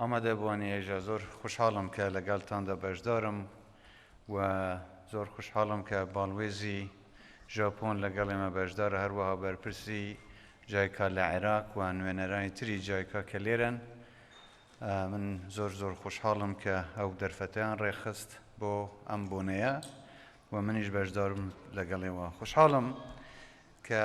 ئامادەبووانی ئێژە زۆر خوشحاڵم کە لەگەڵتاندا بەشدارم و زۆر خوشحاڵم کە باڵوێزی ژاپۆن لەگەڵ ئێمە بەشدارە هەروەها بەرپرسی جایکا لە عێراق و نوێنەرانی تری جایکا کە لێرەن من زۆر زۆر خوشحاڵم کە ئەو دەرفەتیان ڕێخست بۆ ئەم بۆنەیە و منیش بەشدارم لەگەڵێەوە خوشحاڵم کە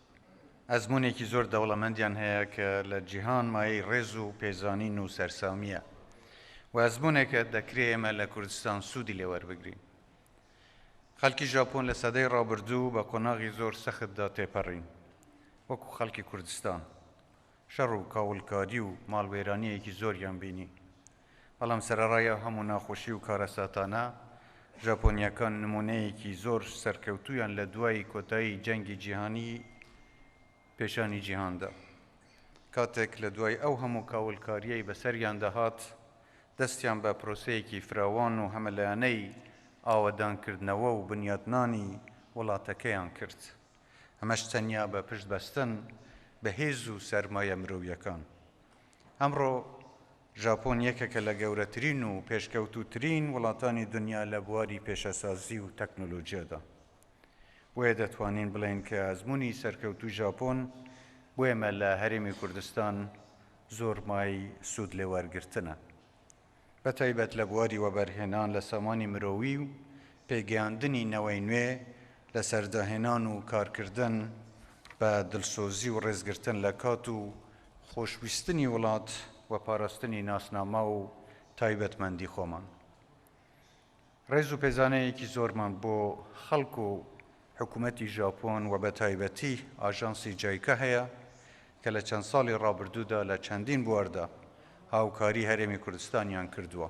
ئەزموونێکی زۆر دەوڵەمەندیان هەیە کە لە جیهان مایەی ڕێز و پێزانین و سەرسامییە و ئەزموونێکە دەکرێ ئێمە لە کوردستان سوودی لێ وەربگرین. خەڵکی ژاپۆن لە سەدەی ڕابردوو بە قۆناغی زۆر سەختدا تێپەڕین وەکو خەڵکی کوردستان شەڕ و کاولکاری و ماڵوێرانییەکی زۆریان بینی، بەڵام سەرەڕای ئەو هەموو ناخۆشی و کارەساتانە، ژاپۆنییەکان نموونەیەکی زۆر سەرکەوتوویان لە دوای کۆتایی جەنگی جیهانیی پێشانی جیهان دا. کاتێک لە دوای ئەو هەموو کاولکارییەی بەسەریاندا هات، دەستیان بە پرۆسەیەکی فراوان و هەمەلایەنەی ئاوەدانکردنەوە و بنیاتنانی وڵاتەکەیان کرد، ئەمەش تەنیا بە پشتبەستن بە هێز و سەرمایە مرۆییەکان. ئەمڕۆ ژاپۆن یەکێکە لە گەورەترین و پێشکەوتووترین وڵاتانی دنیا لە بواری پیشەسازی و تەکنۆلۆجیادا، بۆیە دەتوانین بڵێین کە ئەزموونی سەرکەوتووی ژاپۆن بۆ ئێمە لە هەرێمی کوردستان زۆر مایەی سوود لێ وەرگرتنە، بە تایبەت لە بواری وەبەرهێنان لە سامانی مرۆیی و پێگەیاندنی نەوەی نوێ لەسەر داهێنان و کارکردن بە دڵسۆزی و ڕێزگرتن لە کات و خۆشویستنی وڵات و پاراستنی ناسنامە و تایبەتمەندی خۆمان. ڕێز و پێزانەیەکی زۆرمان بۆ خەڵک و حکومەتی ژاپۆن و بەتایبەتی ئاژانسی جایکا هەیە کە لە چەند ساڵی ڕابردوودا لە چەندین بواردا هاوکاری هەرێمی کوردستانیان کردووە.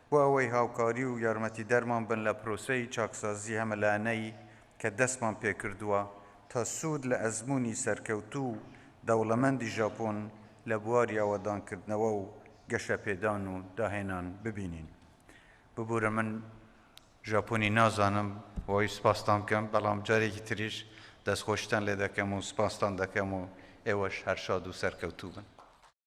بۆ ئەوەی هاوکاری و یارمەتیدەرمان بن لە پرۆسەی چاکسازی هەمەلایەنەی کە دەستمان پێکردووە تا سوود لە ئەزموونی سەرکەوتوو و دەوڵەمەندی ژاپۆن لە بواری ئاوەدانکردنەوە و گەشەپێدان و داهێنان ببینین ببورە من ژاپۆنی نازانم بۆی سپاستان بکەم بەڵام جارێکی تریش دەستخۆشیتان لێدەکەم و سپاستان دەکەم و ئێوەش هەر شاد و سەرکەوتوو بن.